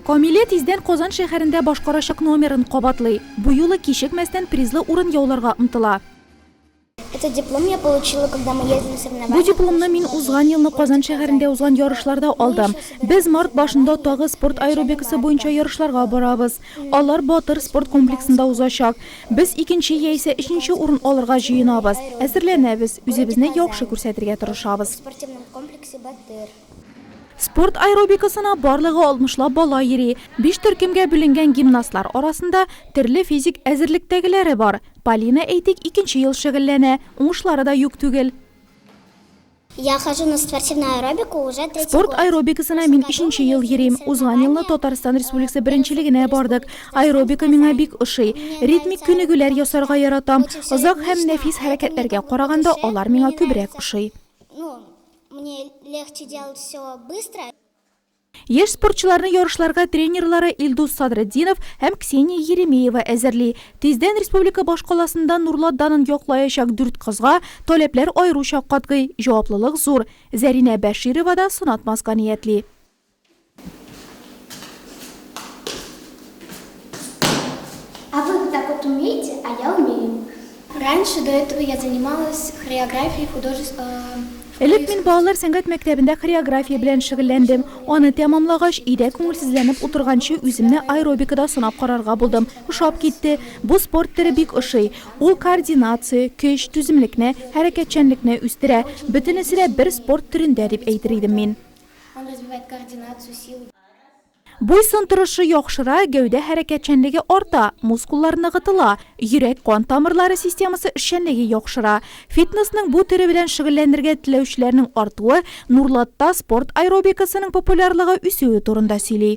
Камилә тиздән Казан шәһәрендә башкарачак номерын кабатлый. Бу юлы кичекмәстән призлы урын яуларга омтыла. Этот диплом я получила, когда мы ездили на соревнования. Бу дипломны мин узган елны Казан шәһәрендә узган ярышларда алдым. Без март башында тагы спорт аэробикасы буенча ярышларга барабыз. Алар Батыр спорт комплексында узачак. Без икенче яисә өченче урын алырга җыенабыз. Әзерләнәбез, үзебезне яхшы күрсәтергә тырышабыз. Спорт аэробикасына барлыгы алтмышлап бала йөри. Биш төркемгә бүленгән гимнастлар арасында төрле физик әзерлектәгеләре бар. Полина, әйтик, икенче ел шөгыльләнә. Уңышлары да юк түгел. Спорт аэробикасына мин өченче ел йөрим. Узган елны Татарстан Республикасы беренчелегенә бардык. Аэробика миңа бик ошый. Ритмик күнегүләр ясарга яратам. Озак һәм нәфис хәрәкәтләргә караганда, алар миңа күбрәк ошый. Яшь спортчыларны ярышларга тренерлары Илдус Садретдинов һәм Ксения Еремеева әзерли. Тиздән республика башкаласында Нурлат данын яклаячак дүрт кызга таләпләр аеруча катгый, җаваплылык зур. Зәринә Бәширова да сынатмаска ниятли. Раньше, до этого, я занималась хореографией, художеств, э. Элек мин балалар сәнгать мәктәбендә хореография белән шөгыльләндем. Аны тәмамлагач, өйдә күңелсезләнеп утырганчы үземне аэробикада сынап карарга булдым. Ошап китте. Бу спорт төре бик ошый. Ул координация, көч, түземлекне, хәрәкәтчәнлекне үстерә. Бөтенесе дә бер спорт төрендә дип әйтер идем мин. Он развивает координацию, силу. Буй-сын торышы яхшыра, гәүдә хәрәкәтчәнлеге арта, мускуллар ныгытыла, йөрәк-кан тамырлары системасы эшчәнлеге яхшыра. Фитнесның бу төре белән шөгыльләнергә теләүчеләрнең артуы Нурлатта спорт аэробикасының популярлыгы үсүе турында сөйли.